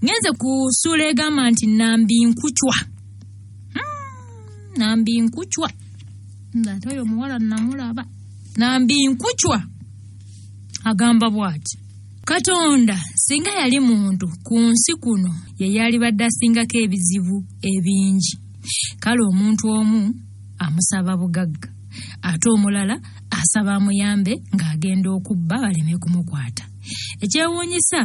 ngenze ku ssuula egamba nti nambi nkucwa hmm, nambi nkucwa ngaate oyo omuwala namulaba nambi nkucwa agamba bwati Katonda singa yali muntu ku nsi kuno ye yalibadde asingako ebizibu ebingi. Kale omuntu omu amusaba bugagga ate omulala asaba amuyambe ng'agenda okubba baleme kumukwata. Ekyewuunyisa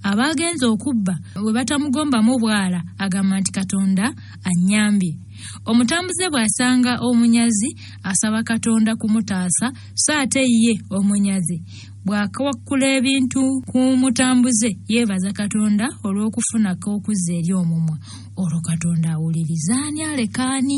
abaagenze okubba bwe batamugombamu bwala agamba nti Katonda annyambye. Omutambuze bw'asanga omunyazi asaba Katonda kumutaasa so ate ye omunyazi bw'akawakkula ebintu ku mutambuze yeebaza katonda olw'okufuna k'okuzza eri omumwa olwo katonda awuliriza ani aleka ani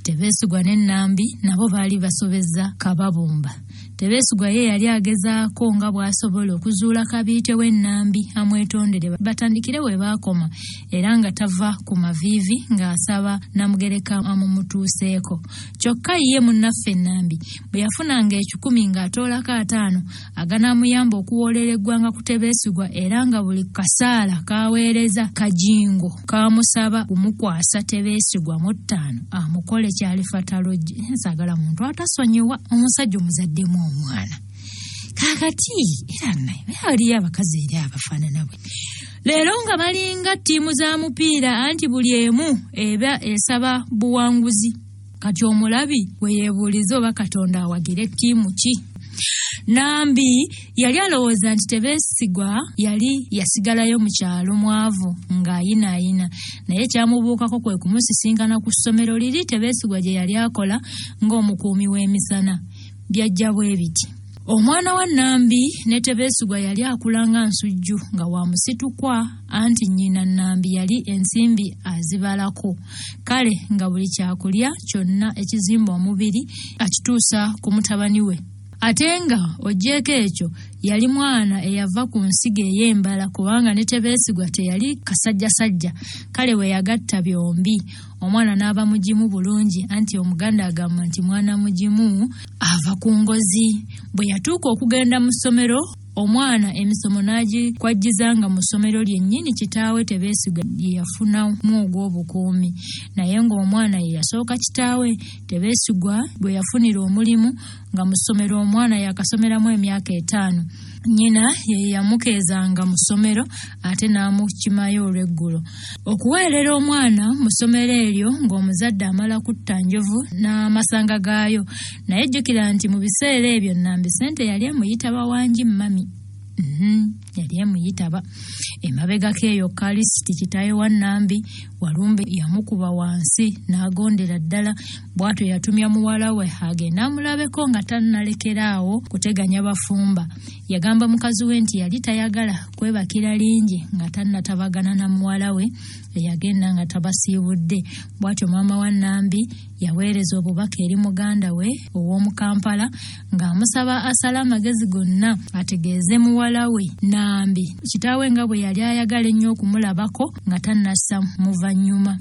tebeesigwa ne nnambi nabo baali basobezza kababumba tebeesigwa ye yali agezaako nga bw'asobola okuzuula kabiite we nnambi amwetondere batandikire we baakoma era nga tava ku maviivi ng'asaba namugereka amumutuuseeko kyokka ye munnaffe nnambi bwe yafunanga ekikumi ng'atoolako ataano aganaamuyamba okuwoolera eggwanga ku tebeesigwa era nga buli kasaala k'aweereza kajingo kaamusaba kumukwasa tebeesigwa mu ttaano amukole kyalifatalojje nsagala muntu atasonyiwa omusajja omuzaddemu omwana kakati era naye aliyo abakazi eri abafaanana bwe leero nga balinga ttiimu za mupiira anti buli emu eba esaba buwanguzi kati omulabi we yeebuuliza oba katonda awagira ettiimu ki nambi yali alowooza nti tebeesigwa yali yasigalayo mu kyalo mwavu ng'ayinaayina naye kyamubuukako kwe kumusisinkana ku ssomero liri tebeesigwa gye yali akola ng'omukuumi w'emisana byajja bwe biti Omwana wa Nambi ne Tebeesigwa yali akula nga nsujju nga wa musitukwa anti nnyina Nambi yali ensimbi azibalako kale nga buli kyakulya kyonna ekizimba omubiri akituusa ku mutabani we ate nga ogyeko ekyo yali mwana eyava ku nsiga ey'embala kubanga ne Tebeesigwa teyali kasajjasajja kale we yagatta byombi omwana n'aba mugimu bulungi anti omuganda agamba nti mwana mugimu ava ku ngozi bwe yatuuka okugenda mu ssomero omwana emisomo n'agikwajjiza nga mu ssomero lyennyini kitaawe tebeesiga lye yafunamu ogw'obukuumi naye ng'omwana ye yasooka kitaawe tebeesigwa gwe yafunira omulimu nga mu ssomero omwana yakasomeramu emyaka etaano nnyina ye yamukeezanga mu ssomero ate n'amukimayo olw'eggulo okuweerera omwana mu ssomero eryo ng'omuzadde amala kutta njovu n'amasanga gaayo naye jjukira nti mu biseera ebyo nnambi ssente yali emuyita bawangi mmami mhm, yali emuyitaba emabegako eyo kalisiti kitaayo wa nnambi walumbe yamukuba wansi n'agondera ddala bw'atyo yatumya muwala we hage n'amulabeko nga tannalekera awo kuteganya bafumba yagamba mukazi we nti yali tayagala kwebakira lingi nga tannatabagana na muwala we eyagenda nga tabasiibudde bw'atyo maama wa nambi yaweereza obubaka eri muganda we ow'omu kampala ng'amusaba asale amagezi gonna ategeeze muwala we nambi kitaawe nga bwe yali ayagala ennyo okumulabako nga tannassa muvannyuma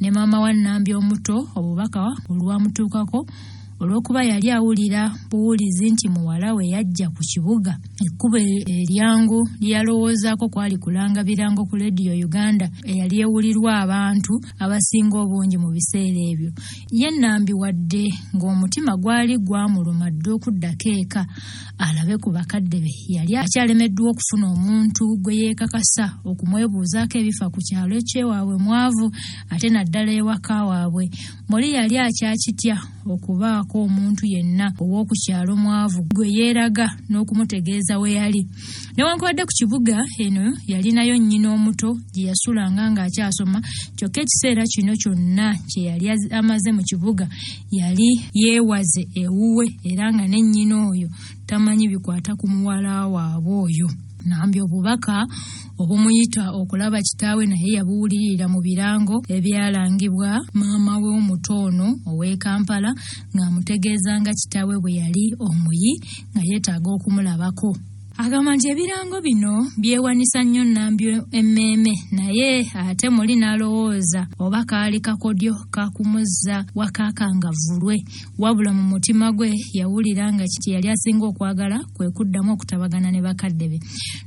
ne maama wa Nambi omuto obubaka olwamutuukako olw'okuba yali awulira buwulizi nti muwala we yajja ku kibuga ekkubo eryangu lyeyalowoozaako kwali kulanga birango ku leediyo uganda eyali ewulirwa abantu abasinga obungi mu biseera ebyo ye nambi wadde ng'omutima gwali gwamuluma dda okuddako eka alabe ku bakadde be yali akyalemeddwa okufuna omuntu gwe yeekakasa okumwebuuzaako ebifa ku kyalo ekyewaabwe mwavu ate naddala ewaka waabwe muli yali akyakitya okubaako omuntu yenna ow'oku kyalo mwavu gwe yeeraga n'okumutegeeza we yali newankubadde ku kibuga eno yalinayo nnyina omuto gye yasulanga ng'akyasoma kyokka ekiseera kino kyonna kye yali amaze mu kibuga yali yeewaze ewuwe era nga ne nnyina oyo tamanyi bikwata ku muwala waabwe oyo nambi obubaka obumuyita okulaba kitaawe naye yabuwulirira mu birango ebyalangibwa maama we omuto ono ow'e kampala ng'amutegeeza nga kitaawe bwe yali omuyi nga yeetaaga okumulabako Agamba nti ebirango bino byewanisa nnyo Nambi emmeeme naye ate muli n'alowooza oba kaali kakodyo kakumuzza wakaaka nga vulwe wabula mu mutima gwe yawulira nga kye yali asinga okwagala kwe kuddamu okutabagana ne bakadde be.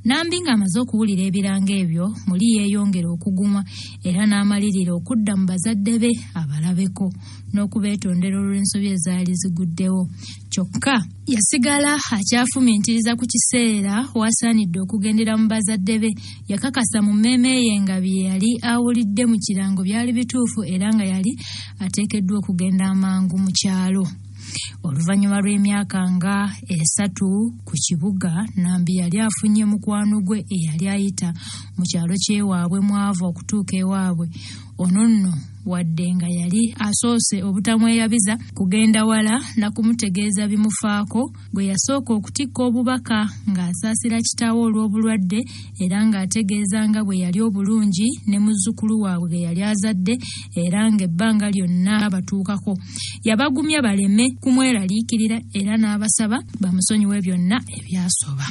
Nambi ng'amaze okuwulira ebirango ebyo muli yeeyongera okugumwa era n'amalirira okudda mu bazadde be abalabeko n'okubeetondera olw'ensobi ezaali ziguddewo kyokka Yasigala akyafumiitiriza ku kiseera w'asaanidde okugendera mu bazadde be. Yakakasa mu mmeeme ye nga bye yali awulidde mu kirango byali bituufu era nga yali ateekeddwa okugenda amangu mu kyalo. Oluvannyuma lw'emyaka nga esatu ku kibuga, Nambi yali afunye mukwano gwe eyali ayita mu kyalo ky'ewaabwe mw'ava okutuuka ewaabwe. ono nno wadde nga yali asoose obutamweyabiza kugenda wala na kumutegeeza bimufaako bwe yasooka okutikka obubaka ng'asaasira kitaawe olw'obulwadde era ng'ategeeza nga bwe yali obulungi ne muzzukulu waabwe ge yali azadde era ng'ebbanga lyonna abatuukako yabagumya baleme kumweraliikirira era n'abasaba bamusonyiwe byonna ebyasoba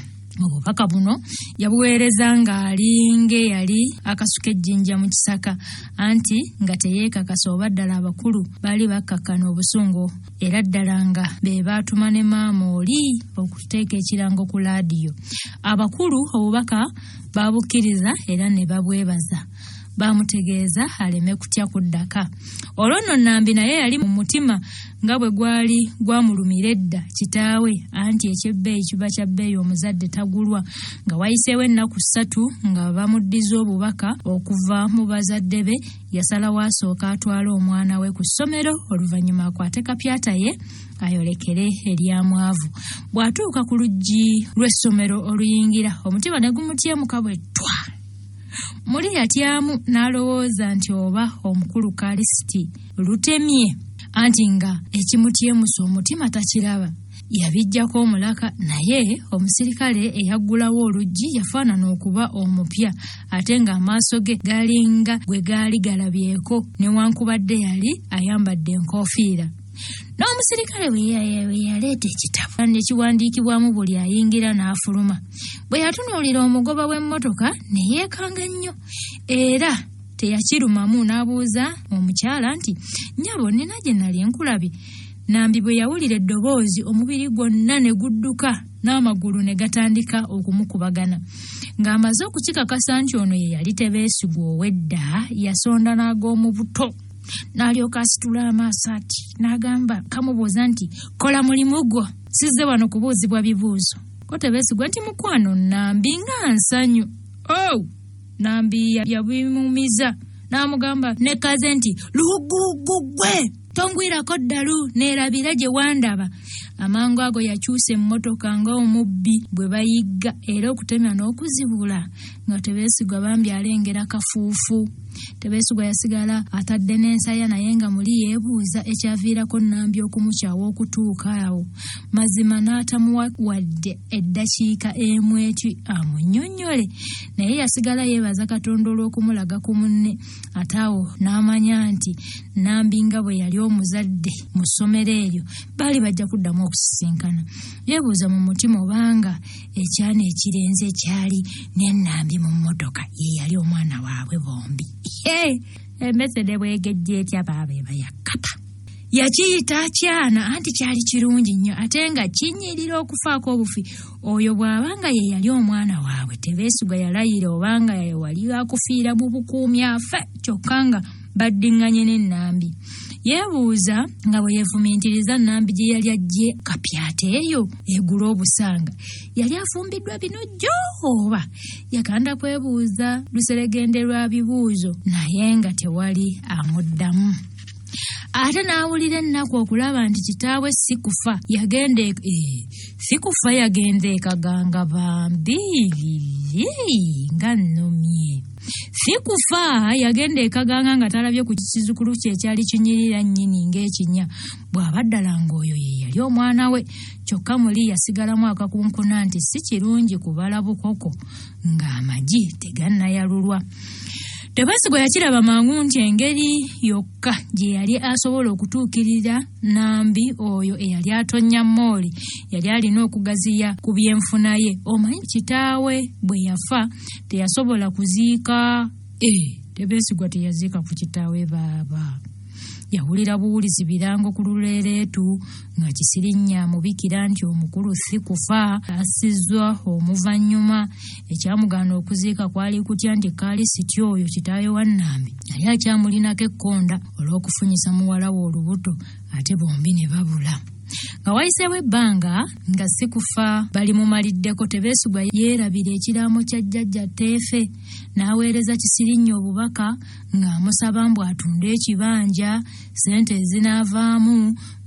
obubaka buno yabuweereza ng'ali ng'eyali akasuka ejjinja mu kisaka anti nga teyeekakasa oba ddala abakulu baali bakkakkana obusungu era ddala nga be baatuma ne maama oli okuteeka ekirango ku laadiyo abakulu obubaka baabukkiriza era ne babwebaza baamutegeeza aleme kutya kuddaka olwo nno nambi naye yali mu mutima nga bwe gwali gwamulumira edda kitaawe anti eky'ebbeeyi kiba kya bbeeyi omuzadde tagulwa nga wayiseewo ennaku ssatu nga bamuddiza obubaka okuva mu bazadde be yasalawo asooka atwale omwana we ku ssomero oluvannyuma akwate kapyata ye ayolekere eryamwavu bw'atuuka ku luggi lw'essomero oluyingira omutima ne gumutyemuka bwe ttwa muli yatyamu n'alowooza nti oba omukulu kalisiti lutemye anti nga ekimutyemusa omutima takiraba yabijjako omulaka naye omusirikale eyaggulawo oluggi yafaanana okuba omupya ate ng'amaaso ge galinga gwe gaali galabyeko newankubadde yali ayambadde enkoofiira n'omusirikale we yaleeta ekitabo ne kiwandiikibwamu buli ayingira n'afuluma bwe yatunuulira omugoba w'emmotoka ne yeekanga nnyo era teyakirumamu n'abuuza omukyala nti nyabo nina gye nali enkulabye nambi bwe yawulira eddoboozi omubiri gwonna ne gudduka n'amagulu ne gatandika okumukubagana ng'amaze okukikakasa nti ono ye yali tebeesigwa ow'edda yasonda n'ag'omu buto n'alyoka asitula amaaso ati n'agamba kamubuuza nti kola mulimu gwo sizze wano kubuuzibwa bibuuzo ko tebeesigwa nti mukwano nambi nga nsanyu ow oh! Nambi yabimumiza n'amugamba ne kaze nti luguggwe tongwirako ddalu neerabira gye wandaba amangu ago yakyusa emmotoka nga omubbi bwe bayigga era okutemya n'okuzibula nga tebeesigwa bambi alengera kafuufu tebeesigwa yasigala atadde n'ensaya naye nga muli yeebuuza ekyaviirako nambi okumukyawa okutuuka awo mazima n'atamuwa wadde eddakiika emwetwi amunyonnyole naye yasigala yeebaza katonda olw'okumulaga ku munne ate awo n'amanya nti nambi nga bwe yali omuzadde mu ssomero eryo baali bajja kuddamu okusisinkana yeebuuza mu mutima obanga ekyana ekirenze ekyali nenambi mu mmotoka ye yali omwana waabwe bombi embesede bwegejja etya baaba eba yakkapa yakiyita kyana anti kyali kirungi nnyo ate nga kinyirira okufaako obufi oyo bw'aba nga ye yali omwana waabwe tebeesuga yalayira oba nga wali akufiira mu bukuumi afe kyokka nga baddiŋŋanye n'ennambi yeebuuza nga bwe yeefumintiriza nnambi gye yali ajje kapyata eyo egula obusanga yali afumbiddwa bino jjo oba yaganda kwebuuza luseregende lwa bibuuzo naye nga tewali amuddamu ate n'awulira ennaku okulaba nti kitaawe si kufa yagenda e-, e, si kufa yagenda ekaganga bambi nga nnomye si kufa yagenda ekaganga nga talabye ku kizukulu kye ekyali kinyirira nnyini ng'ekinya bw'aba ddala ng'oyo ye yali omwana we kyokka muli yasigalamu akakunkuna nti si kirungi kubala bukoko ng'amagi tegannayalulwa tebesigwa yakiraba mangu nti engeri yokka gye yali asobola okutuukirira nambi oyo eyali atonnya mooli yali alina okugaziya ku byenfuna ye omanyi kitaawe bwe yafa teyasobola kuziika Eh, tebeesigwa teyaziika ku kitaawe baaba yawulira buwulizi birango ku luleereetu nga kisirinya mubikira nti omukulu si kufa asizzwa omuvannyuma ekyamugaana okuziika kwali kutya nti kaali siti oyo kitaawe wa nnambi yali akyamulinako ekkonda olw'okufunyisa muwala we olubuto ate bombi ne babula nga wayiseewo ebbanga nga si kufa bali mumaliddeko tebeesigwa yeerabira ekiraamo kya jjajja teefe n'aweereza Kisirinnya obubaka ng'amusaba mbu atunde ekibanja ssente ezinaavaamu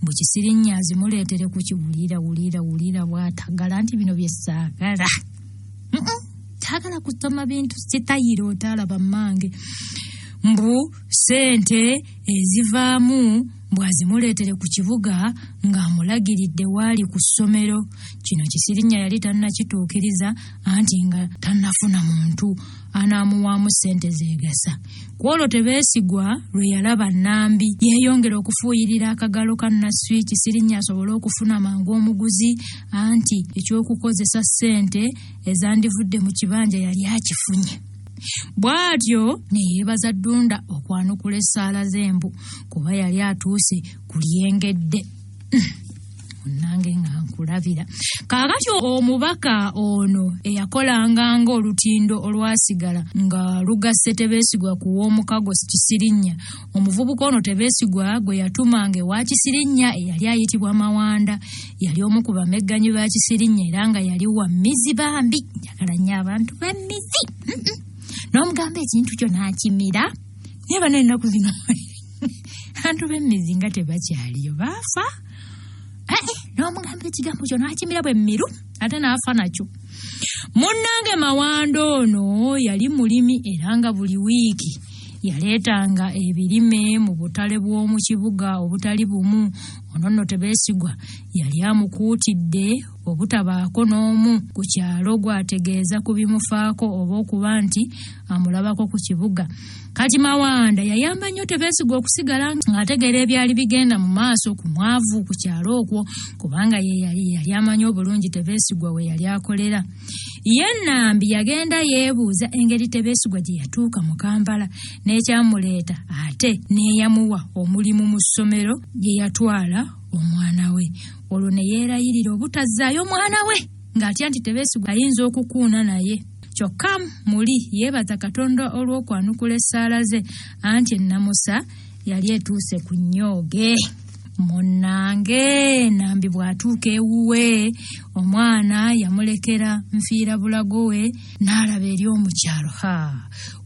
mbu Kisirinnya azimuleetere ku kiwulira wulira wulira bw'atagala nti bino bye saagala taagala kusoma bintu sitayiro otaalaba mmange mbu ssente ezivaamu bw'azimuleetere ku kibuga ng'amulagiridde waali ku ssomero kino kisirinya yali tannakituukiriza anti nga tannafuna muntu anaamuwaamu ssente zeegasa ku olwo tebeesigwa lwe yalaba nnambi yeeyongera okufuuyirira akagalo ka nasswi kisirinya asobole okufuna mangu omuguzi anti eky'okukozesa ssente ezandivudde mu kibanja yali akifunye bw'atyo ne yeebaza ddunda okwanukula essaala z'embu kuba yali atuuse ku lyengedde nange nga nkulabira kaakati omubaka ono eyakolanga ng'olutindo olwasigala nga lugasse tebeesigwa ku w'omukago kisirinnya omuvubuka ono tebeesigwa gwe yatumanga ewa kisirinnya eyali ayitibwa mawanda yali omu ku bamegganyi ba kisirinnya era nga yali wa mizi bambi ayagala nnyo abantu b'emmizi n'omugamba ekintu kyo n'akimira naye bano ennaku zino abantu b'emmizi nga tebakyaliyo baafa n'omugamba ekigambo kyo n'akimira bwe mmiru ate n'afa nakyo munnange mawanda ono yali mulimi era nga buli wiiki yaleetanga ebirime mu butale bw'omu kibuga obutali bumu ono nno tebeesigwa yali amukuutidde obutabaako n'omu ku kyalo gw'ategeeza ku bimufaako oba okuba nti amulabako ku kibuga kati mawanda yayamba nnyo tebeesigwa okusigala ng'ategeera ebyali bigenda mu maaso ku mwavu ku kyalo okwo kubanga ye yali yali amanyi obulungi tebeesigwa we yali akolera ye nambi yagenda yeebuuza engeri tebeesigwa gye yatuuka mu kampala n'ekyamuleeta ate n'eyamuwa omulimu mu ssomero gye yatwala omwana we olwo ne yeerayirira obutazzaayo mwana we ng'atya nti tebeesigwa ayinza okukuuna naye kyokka muli yeebaza katonda olw'okwanukula essaala ze anti ennamusa yali etuuse ku nnyooge munnange nambi bw'atuuka ewuwe omwana yamulekera nfiira bulago we n'alaba eri omukyalo ha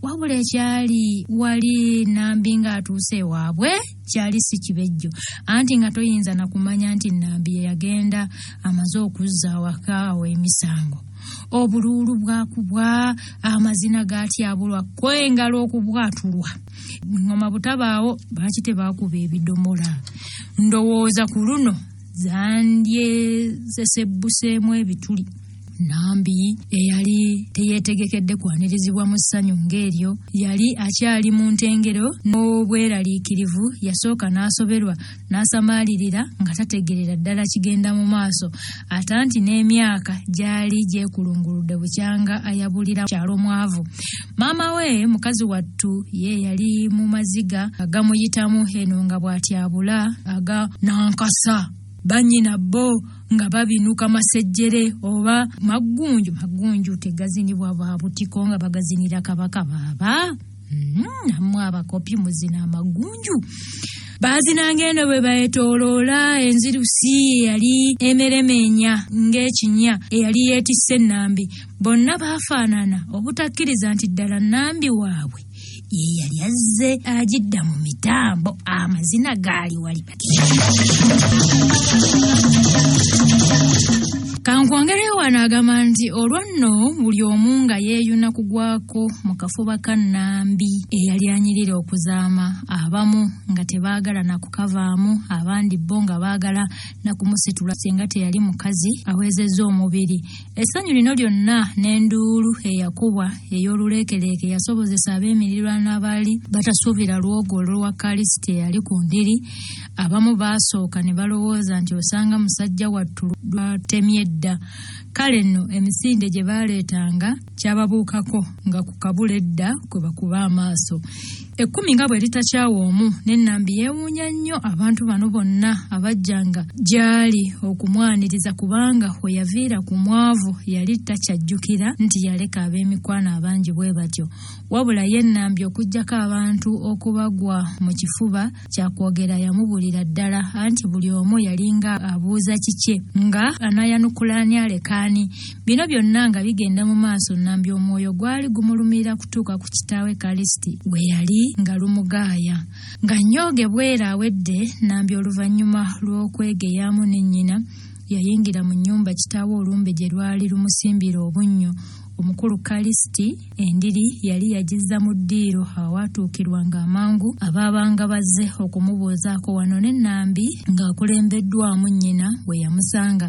wabula ekyali wali nambi ng'atuuse ewaabwe kyali si kibejjo anti nga toyinza na kumanya nti nnambi ye yagenda amaze okuzza awaka awo emisango obuluulu bwakubwa amazina gatyabulwa kwe engalo okubwatulwa ngoma butabaawo lwaki tebaakuba ebidomola ndowooza ku luno zandyezesebbuseemu ebituli Nambi eyali teyeetegekedde kwanirizibwa mu ssanyu ng'eryo yali akyali mu ntengero n'obweraliikirivu yasooka n'asoberwa n'asamaalirira nga tategeerera ddala kigenda mu maaso ate anti n'emyaka gyali gyekulunguludde bukyanga ayabulira kyalo mwavu maama we mukazi wattu ye yali mu maziga agamuyitamu eno nga bw'atyabula aga nankasa bannyina bo nga babinuka masejjere oba maggunju maggunju tegazinibwa ba butiko nga bagazinira kabaka baaba mm-hmm. namwe abakopi muzina amaggunju baazina ng'eno bwe baetoloola enzirusi eyali emeremenya ng'ekinya eyali yeetisse nnambi bonna baafaanana obutakkiriza nti ddala nnambi waabwe ye yali azze agidda mu mitambo amazina gaali wali bati kankwongere wano agamba nti olwo nno buli omu nga yeeyuna kugwako mu kafuba ka nnambi eyali anyirira okuzaama abamu nga tebaagala na kukavaamu abandi bo nga baagala na kumusitula singa teyali mukazi awezezza omubiri Essanyu lino lyonna n'enduulu eyakubwa ey'oluleekeleeke yasobozesa ab'emirirwano abaali batasuubira lwogo olwa Kalisiti eyali ku ndiri. Abamu baasooka ne balowooza nti osanga musajja wattu lwatemye dda. Kale nno emisinde gye baaleetanga kyababuukako nga ku kabula edda kwe bakuba amaaso. Ekkumi nga bwe litakyawa omu, ne Nambi yeewuunya nnyo abantu bano bonna abajjanga gy'ali okumwaniriza kubanga we yaviira ku mwavu yali takyajjukira nti yaleka ab'emikwano abangi bwe batyo. Wabula ye Nambi okuggyako abantu okubagwa mu kifuba, kyakwogera yamubulira ddala anti buli omu yalinga abuuza kikye nga anayanukula ani aleka ani bino byonna nga bigenda mu maaso nambi omwoyo gwali gumulumira kutuuka ku kitaawe kalisiti gwe yali nga lumugaaya nga nyooge bwera awedde nambi oluvannyuma lw'okwegeyaamu ne nnyina yayingira mu nnyumba kitaawe olumbe gye lwali lumusimbira obunnyo omukulu kalisiti Endiri yali yagizza mu ddiiro awaatuukirwanga amangu abaabanga bazze okumubuuzaako wano ne Nambi ng'akulembeddwamu nnyina we yamusanga.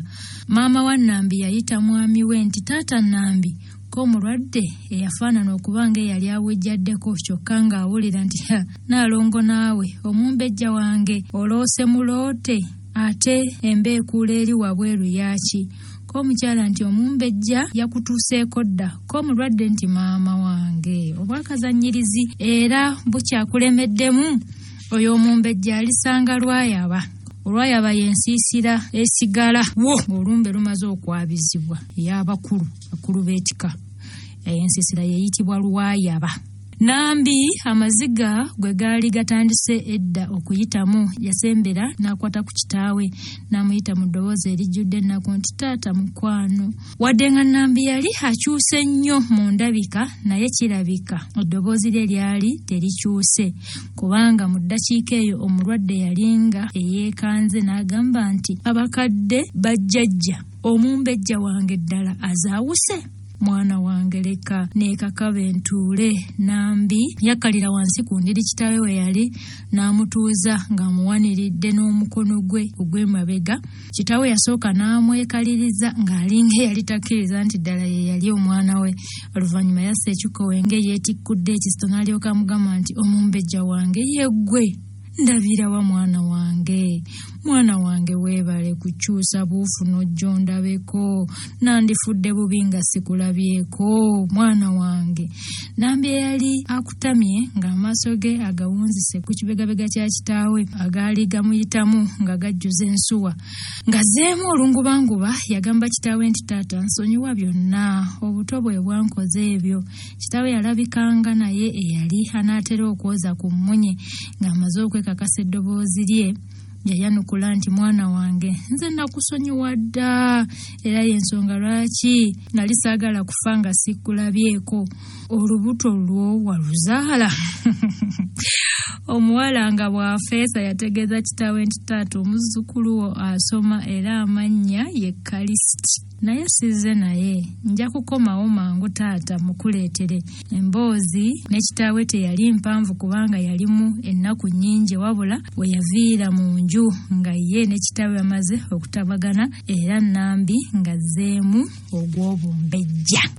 Maama wa Nambi yayita mwami we nti taata Nambi ko omulwadde eyafaanana okuba ng'eyali awejjaddeko kyokka ng'awulira nti ha naalongo naawe omumbejja wange oloose muloote Ate emba ekuula eri wabweru yaaki? Ko omukyala nti omumbejja yakutuuseeko dda. Ko omulwadde nti maama wange obwakazannyirizi era bukyakulemeddemu. Oyo omumbejja alisanga lwayaba. olwayaba yensiisira esigala wo ng'olumbe lumaze okwabizibwa ey'abakulu bakulu b'ekika eyo ensiisira yeeyitibwa lwayaba Nambi amaziga gwe gaali gatandise edda okuyitamu yasembera n'akwata ku kitaawe n'amuyita mu ddoboozi erijjudde ennaku nti taata mukwano. Wadde nga Nambi yali akyuse nnyo mu ndabika naye kirabika eddoboozi lye lyali terikyuse kubanga mu ddakiika eyo omulwadde yalinga eyeekanze n'agamba nti abakadde bajjajja omumbejja wange ddala azaawuse. mwana wange leka neekakabe ntuule nambi yakkalira wansi ku ndiri kitaawe we yali n'amutuuza ng'amuwaniridde n'omukono gwe ogw'emabega kitaawe yasooka n'amwekaliriza ng'alinga eyali takkiriza nti ddala ye yali omwana we oluvannyuma yassa ekikkowe ng'eyeetikkudde ekisito n'alyoka amugamba nti omumbejja wange yeggwe ndabira wa mwana wange mwana wange weebale kukyusa buufu n'ojja ondabeko nandifudde bubi nga sikulabyeko mwana wange nambi eyali akutamye ng'amaaso ge agawunzise ku kibegabega kya kitaawe agaali gamuyitamu nga gajjuza ensuwa ngazeemu olungubanguba yagamba kitaawe nti taata nsonyiwa byonna obuto bwe bwankoze ebyo Kitaawe yalabikanga naye eyali anaatera okwoza ku mmunye ng'amaze okwekakasa eddoboozi lye yayanukula nti mwana wange nze nakusonyiwa dda era y'ensonga lwaki nali saagala kufa nga sikkulabyeko olubuto lwo waluzaala omuwala nga bw'afeesa yategeeza kitaawe nti taata omuzzukulu wo asoma era amannya ye kalisiti naye sizze naye nja kukomawo mangu taata mukuleetere emboozi ne kitaawe teyali mpanvu kubanga yalimu ennaku nnyingi wabula we yaviira mu nju nga ye ne kitaawe bamaze okutabagana era nnambi ng'azzeemu ogw'obumbejja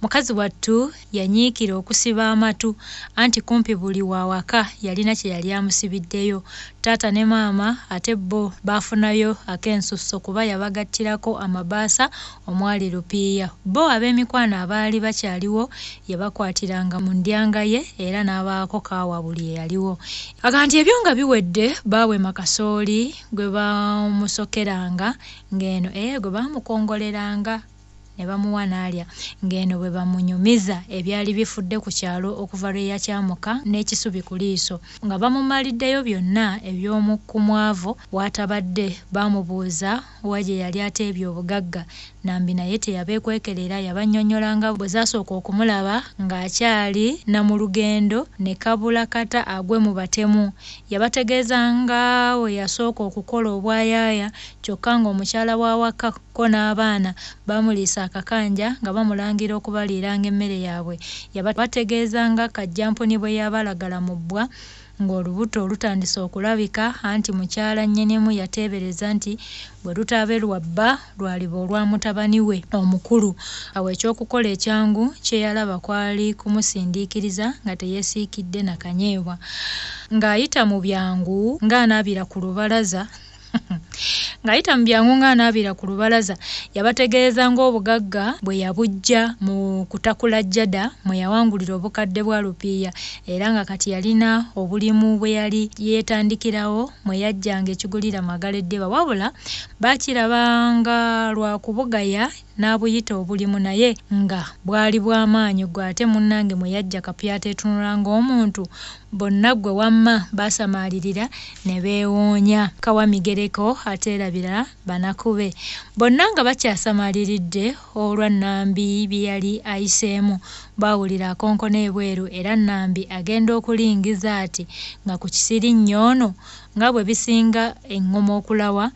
Mukazi wattu yanyiikira okusiba amatu anti kumpi buli wa waka yalina kye yali amusibiddeyo. Taata ne maama ate bo baafunayo ak'ensusso kuba yabagattirako amabaasa omwali lupiiya. Bo ab'emikwano abaali bakyaliwo yabakwatiranga mu ndyanga ye era n'abaako kaawa buli eyaliwo. Agamba nti ebyo nga biwedde baawema kasooli gwe baamusokeranga ng'eno eh gwe baamukongoleranga. ne bamuwa n'alya ng'eno bwe bamunyumiza ebyali bifudde ku kyalo okuva lwe yakyamuka n'ekisubi ku liiso nga bamumaliddeyo byonna eby'omu ku mwavu w'atabadde baamubuuza wa gye yali ateebye obugagga Nambi naye teyabeekwekera era yabannyonnyola nga bwe zaasooka okumulaba ng'akyali na mu lugendo ne kabula kata agwe mu batemu yabategeeza nga bwe yasooka okukola obwayaaya kyokka ng'omukyala w'awaka ko n'abaana baamuliisa akakanja nga bamulangira okubaliiranga emmere yaabwe. Yabategeeza nga Kajjampuni bwe yabalagala mu bbwa ng'olubuto lutandise okulabika anti mukyala nnyinimu yateebereza nti bwe lutaabe lwa bba lwaliba olwa mutabani we omukulu. Awo eky'okukola ekyangu kye yalaba kwali kumusindiikiriza nga teyeesiikidde na kanyeebwa ng'ayita mu byangu ng'anaabira ku lubalaza. ng'ayita mu byangu ng'anaabira ku lubalaza yabategeeza ng'obugagga bwe yabujja mu kutakula jada mwe yawangulira obukadde bwa lupiiya era nga kati yalina obulimu bwe yali yeetandikirawo mwe yajjanga ekigulira magala eddiba wabula baakiraba nga lwa kubugaya n'abuyita obulimu naye nga bwali bw'amaanyi gwe ate munnange mwe yajja kapyata etunula ng'omuntu Bonna ggwe wamma baasamaalirira ne beewoonya. Kawa migereko ateerabira banaku be. Bonna nga bakyasamaaliridde olwa Nambi bye yali ayiseemu, baawulira akonkona ebweru era Nambi agenda okulingiza ati nga ku kisirinnyo ono nga bwe bisinga eŋŋoma okulawa,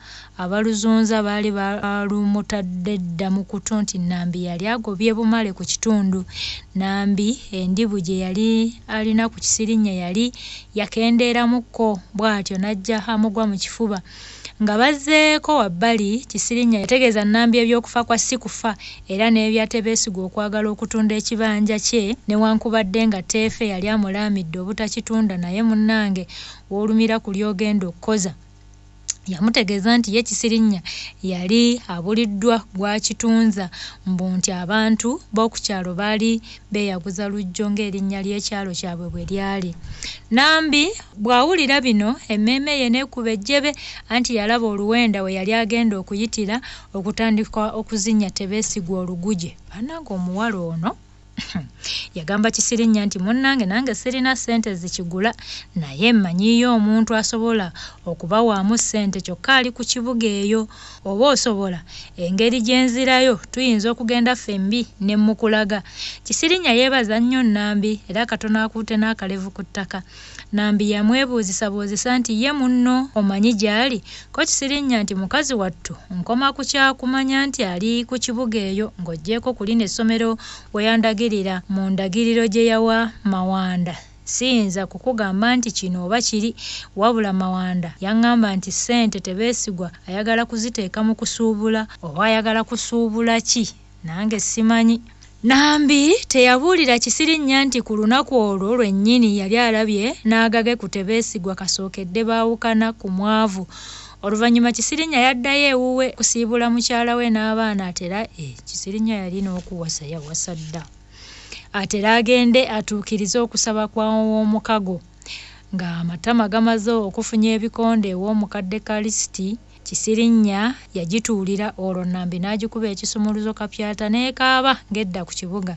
Abaluzunza baali balumutadde dda mu kutu nti Nambi yali agobye Bumale ku kitundu. Nambi endibu gye yali alina ku Kisirinnya yali yakendeeramukko bw'atyo n'ajja amugwa mu kifuba. Nga bazzeeko wabbali, Kisirinnya yategeeza Nambi eby'okufa kwa Sikufa era n'ebya Tebeesigwa okwagala okutunda ekibanja kye newankubadde nga Teefe yali amulaamidde obutakitunda naye munnange w'olumira ku ly'ogenda okukoza. yamutegeeza nti ye Kisirinya yali abuliddwa gw'akitunza mbu nti abantu b'oku kyalo baali beeyaguza Lujjo ng'erinnya ly'ekyalo kyabwe bwe lyali. Nambi bw'awulira bino emmeeme ye n'ekuba ejjebe anti yalaba oluwenda we yali agenda okuyitira okutandika okuzinya Tebeesigwa oluguje. Bannange omuwala ono! yagamba kisirinya nti munnange nange sirina ssente zikigula naye mmanyiiyo omuntu asobola okubawaamu ssente kyokka ali ku kibuga eyo oba osobola engeri gye nzirayo tuyinza okugenda ffembi ne mmukulaga kisirinya yeebaza nnyo nnambi era katono akuute n'akalevu ku ttaka Nambi yamwebuuzisabuuzisa nti ye munno omanyi gy'ali? Ko Kisirinnya nti mukazi wattu nkoma ku kya kumanya nti ali ku kibuga eyo ng'oggyeeko ku lino essomero we yandagirira mu ndagiriro gye yawa Mawanda siyinza kukugamba nti kino oba kiri wabula Mawanda yang'amba nti ssente Tebeesigwa ayagala kuziteeka mu kusuubula oba ayagala kusuubula ki? Nange simanyi. Nambi teyabuulira Kisirinnya nti ku lunaku olwo lwennyini yali alabye n'agage ku Tebeesigwa kasookedde baawukana ku mwavu. Oluvannyuma Kisirinnya yaddayo ewuwe kusiibula mukyala we n'abaana atera e Kisirinnya yali n'okuwasa yawasa dda atera agende atuukirize okusaba kwa ow'omukago ng'amatama gamaze okufunya ebikonde ew'omukadde Kalisiti. Kisirinnya yagituulira olwo Nambi n'agikuba ekisumuluzo kapyata n'ekaaba ng'edda ku kibuga.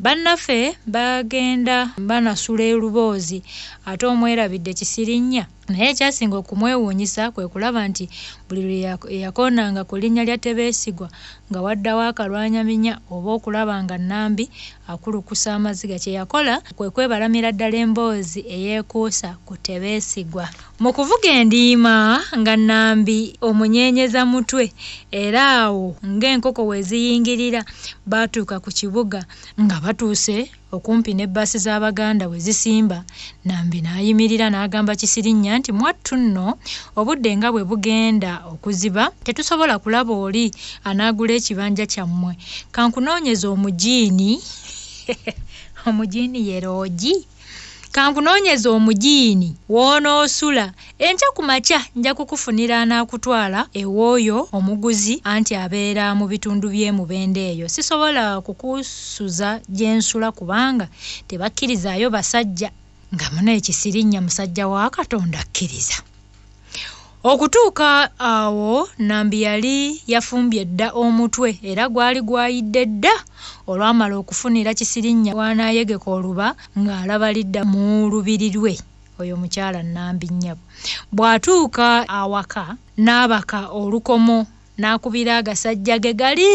Bannaffe bagenda banasula e Luboozi ate omwerabidde Kisirinnya naye ekyasinga okumwewuunyisa kwe kulaba nti buli lwe yakoonanga ku linnya lya Tebeesigwa nga waddawo akalwanyaminya oba okulaba nga Nambi Akulukusa amaziga kye yakola kwe kwebalamira ddala emboozi eyeekuusa ku Tebeesigwa. Mu kuvuga endiima nga Nnambi omunyeenyeza mutwe era awo ng'enkoko we ziyingirira baatuuka ku kibuga. Nga batuuse okumpi ne bbaasi z'Abaganda we zisimba, Nambi n'ayimirira n'agamba Kisirinnya nti, Mwattu nno, obudde nga bwe bugenda okuziba, tetusobola kulaba oli anaagula ekibanja kyammwe. Ka nkunoonyeze omugiini. Omugiini ye loogi? Ka nkunoonyeze omugiini w'onoosula. Enkya ku makya nja kukufunira anaakutwala ew'oyo omuguzi anti abeera mu bitundu by'e Mubende eyo. Sisobola kukusuza gye nsula kubanga tebakkirizaayo basajja. Nga munaye Kisirinnya musajja wa Katonda akkiriza. Okutuuka awo Nambi yali yafumbye dda omutwe era gwali gwayidde dda olwamala okufunira Kisirinnya w'anaayegeka oluba ng'alaba lidda mu lubiri lwe. Oyo omukyala Nambi nnyabo bw'atuuka awaka n'abaka olukomo n'akubira agasajja ge gali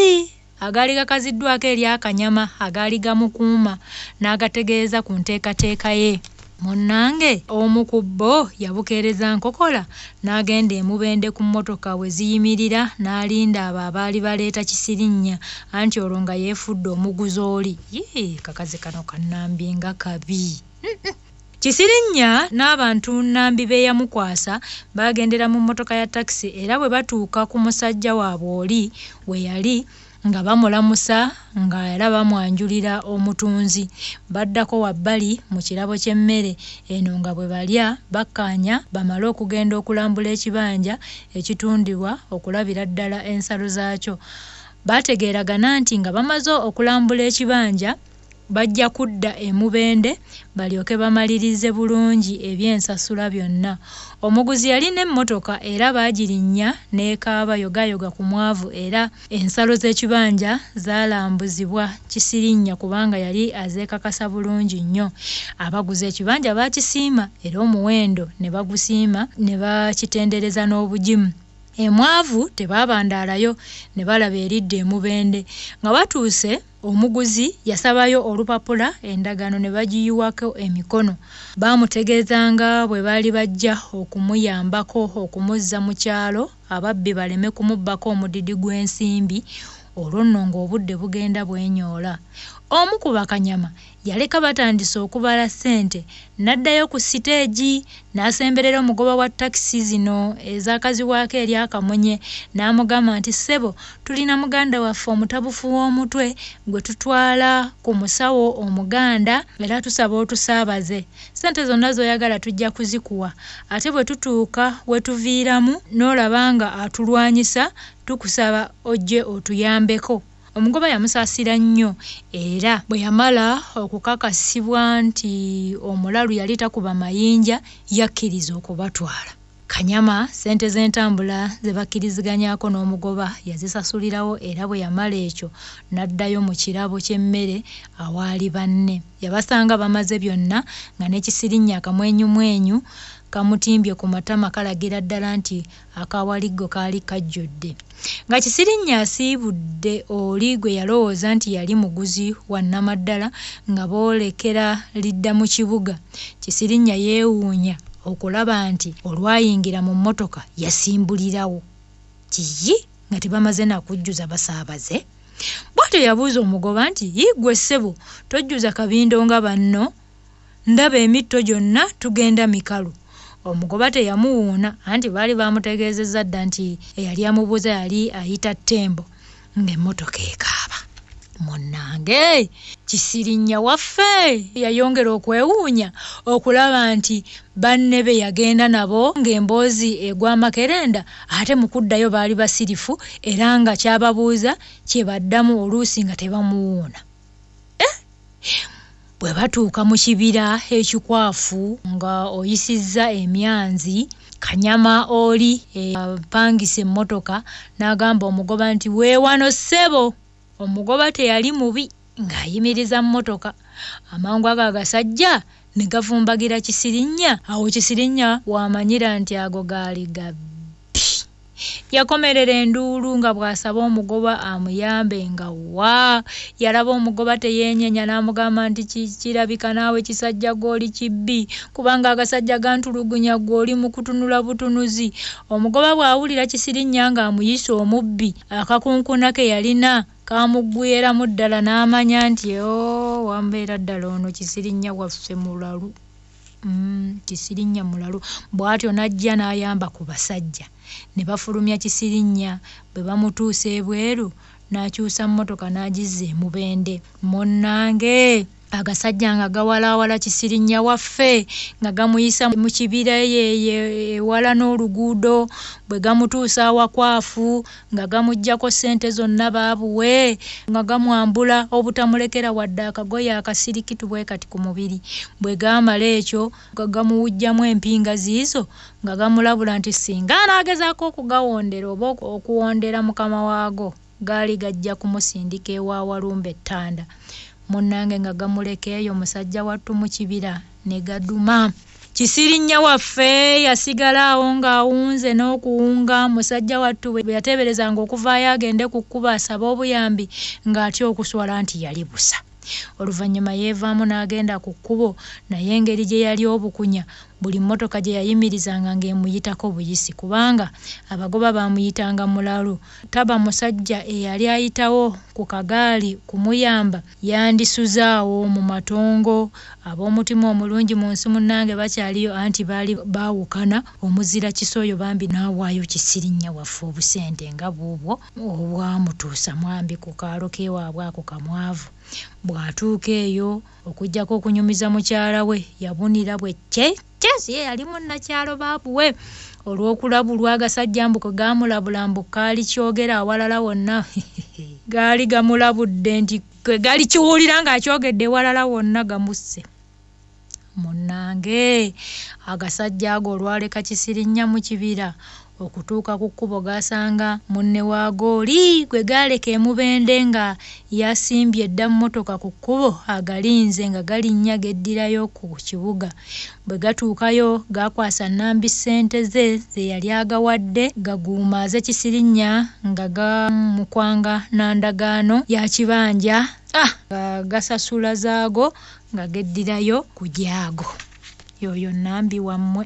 agaali gakaziddwako eri akanyama agaali gamukuuma n'agategeeza ku nteekateeka ye. Munnange omu ku bo yabukeereza nkokola n'agenda e Mubende ku mmotoka we ziyimirira n'alinda abo abaali baleeta Kisirinnya anti olwo nga yeefudde omuguzooli. Yii kakazi kano ka Nambi nga kabi! Kisirinnya n'abantu Nambi be yamukwasa baagendera mu mmotoka ya takisi era bwe batuuka ku musajja waabwe oli we yali nga bamulamusa nga era bamwanjulira omutunzi baddako wabbali mu kirabo ky'emmere eno nga bwe balya bakkaanya bamale okugenda okulambula ekibanja ekitundibwa okulabira ddala ensalo zaakyo. Baategeeragana nti nga bamaze okulambula ekibanja bajja kudda e Mubende balyoke bamalirize bulungi eby'ensasula byonna. Omuguzi yalina emmotoka era baagirinnya n'ekaaba yogaayoga ku mwavu era ensalo z'ekibanja zaalambuzibwa Kisirinnya kubanga yali azeekakasa bulungi nnyo. Abaguze ekibanja baakisiima era omuwendo ne bagusiima ne bakitendereza n'obugimu. Emwavu tebaabandaalayo ne balaba eridda e Mubende. Nga batuuse. Omuguzi yasabayo olupapula endagaano ne bagiyiwako emikono. Baamutegeeza nga bwe baali bajja okumuyambako okumuzza mu kyalo ababbi baleme kumubbako omudidi gw'ensimbi olwo nno ng'obudde bugenda bwenyoola. Omu ku bakanyama yaleka batandise okubala ssente n'addayo ku siteegi n'asemberera omugoba wa takisi zino ezaakazibwako erya Kamunye n'amugamba nti ssebo tulina muganda waffe omutabufu w'omutwe gwe tutwala ku musawo Omuganda era tusaba otusaabaze. Ssente zonna z'oyagala tujja kuzikuwa ate bwe tutuuka we tuviiramu n'olaba nga atulwanyisa tukusaba ojje otuyambeko. Omugoba yamusaasira nnyo era bwe yamala okukakasibwa nti omulalu yali takuba mayinja yakkiriza okubatwala. Kanyama ssente z'entambula ze bakkiriziganyaako n'omugoba yazisasulirawo era bwe yamala ekyo n'addayo mu kirabo ky'emmere awaali banne. Yabasanga bamaze byonna nga ne kisirinnyi akamwenyumwenyu kamutimbye ku matama kalagira ddala nti Akawaliggo kaali kajjudde. Nga Kisirinnya asiibudde oli gwe yalowooza nti yali muguzi wa nnamaddala nga boolekera lidda mu kibuga, Kisirinnya yeewuunya okulaba nti olwayingira mu mmotoka yasimbulirawo. Yiyi! Nga tebamaze na kujjuza basaabaze! Bw'atyo yabuuza omugoba nti, Yiggwe ssebo, tojjuza kabindo nga banno? ndaba emitto gyonna tugenda mikalu. Omugoba teyamuwuuna anti baali baamutegeezezza dda nti eyali amubuuza yali ayita Ttembo ng'emmotoka ekaaba. Munnange Kisirinnya waffe yayongera okwewuunya okulaba nti banne be yagenda nabo ng'emboozi egwa amakerenda ate mu kuddayo baali basirifu era nga ky'ababuuza kye baddamu oluusi nga tebamuwuuna. eh? bwe batuuka mu kibira ekikwafu nga oyisizza emyanzi kanyama oli eh, apangisa emmotoka n'agamba omugoba nti weewano ssebo omugoba teyali mubi ng'ayimiriza mmotoka amangu ago agasajja ne gavumbagira kisirinnya awo kisirinnya w'amanyira nti ago gaali gabbi Yakomerera enduulu nga bw'asaba omugoba amuyambe nga wa yalaba omugoba teyeenyenya n'amugamba nti kirabika naawe kisajja gw'oli kibbi kubanga agasajja gantulugunya ggwe oli mu kutunula butunuzi. Omugoba bw'awulira Kisirinnya ng'amuyise omubbi, akakunkuna ke yalina kaamuggweeramu ddala n'amanya nti, Oh, wambeera ddala ono Kisirinnya waffe mulalu! Mm, Kisirinnya mulalu. Bw'atyo n'ajja n'ayamba ku basajja ne bafulumya Kisirinnya. Bwe bamutuusa ebweru n'akyusa mmotoka n'agizza e Mubende. Munnange! agasajja nga gawalaawala kisirinnya waffe nga gamuyisa mu kibira eyo ewala n'oluguudo bwe gamutuusa awakwafu nga gamuggyako ssente zonna baabuwe nga gamwambula obutamulekera wadde akagoye akasirikitu bwe kati ku mubiri bwe gaamala ekyo nga gamuwujjamu empinga ziizo nga gamulabula nti singa anaagezaako okugawondera oba okuwondera mukama waago gaali gajja kumusindika ewa walumbe ettanda munnange nga gamuleka eyo musajja wattu mu kibira ne gaduma Kisirinnya waffe yasigala awo ng'awunze n'okuwunga musajja wattu bwe yateeberezanga okuvaayo agende ku kkubo asabe obuyambi ng'atya okuswala nti yali busa. Oluvannyuma yeevaamu n'agenda ku kkubo naye engeri gye yali obukunya buli mmotoka gye yayimirizanga ng'emuyitako buyisi kubanga abagoba baamuyitanga mulalu. Taba musajja eyali ayitawo ku kagaali kumuyamba. Yandisuze awo mu matongo. Ab'omutima omulungi mu nsi munnange bakyaliyo anti baali baawukana omuzira kisa oyo bambi n'awaayo Kisirinnya waffe obusente nga buubwo obwamutuusa mwambi ku kaalo k'ewaabwe ako kamwavu. Bw'atuuka eyo okuggyako okunyumiza mukyala we yabunira bwe ccee! Jazz ye yali munnakyalo baabuwe olw'okulabulwa agasajja mbu kwe gaamulabula mbu kaali kyogera awalala wonna gaali gamulabudde nti kwe gali kiwulira ng'akyogedde ewalala wonna gamusse munnange agasajja ago olwaleka kisirinya mu kibira okutuuka ku kkubo gaasanga munne waago oli gwe gaaleka e Mubende nga yasimbye dda mmotoka ku kkubo agalinze nga galinnya geddirayo ku kibuga. Bwe gatuukayo gaakwasa Nambi ssente ze ze yali agawadde gaguumaaze Kisirinnya nga gamukwanga na ndagaano ya kibanja nga gasasula zaago nga geddirayo ku gyago. Y'oyo Nambi wammwe.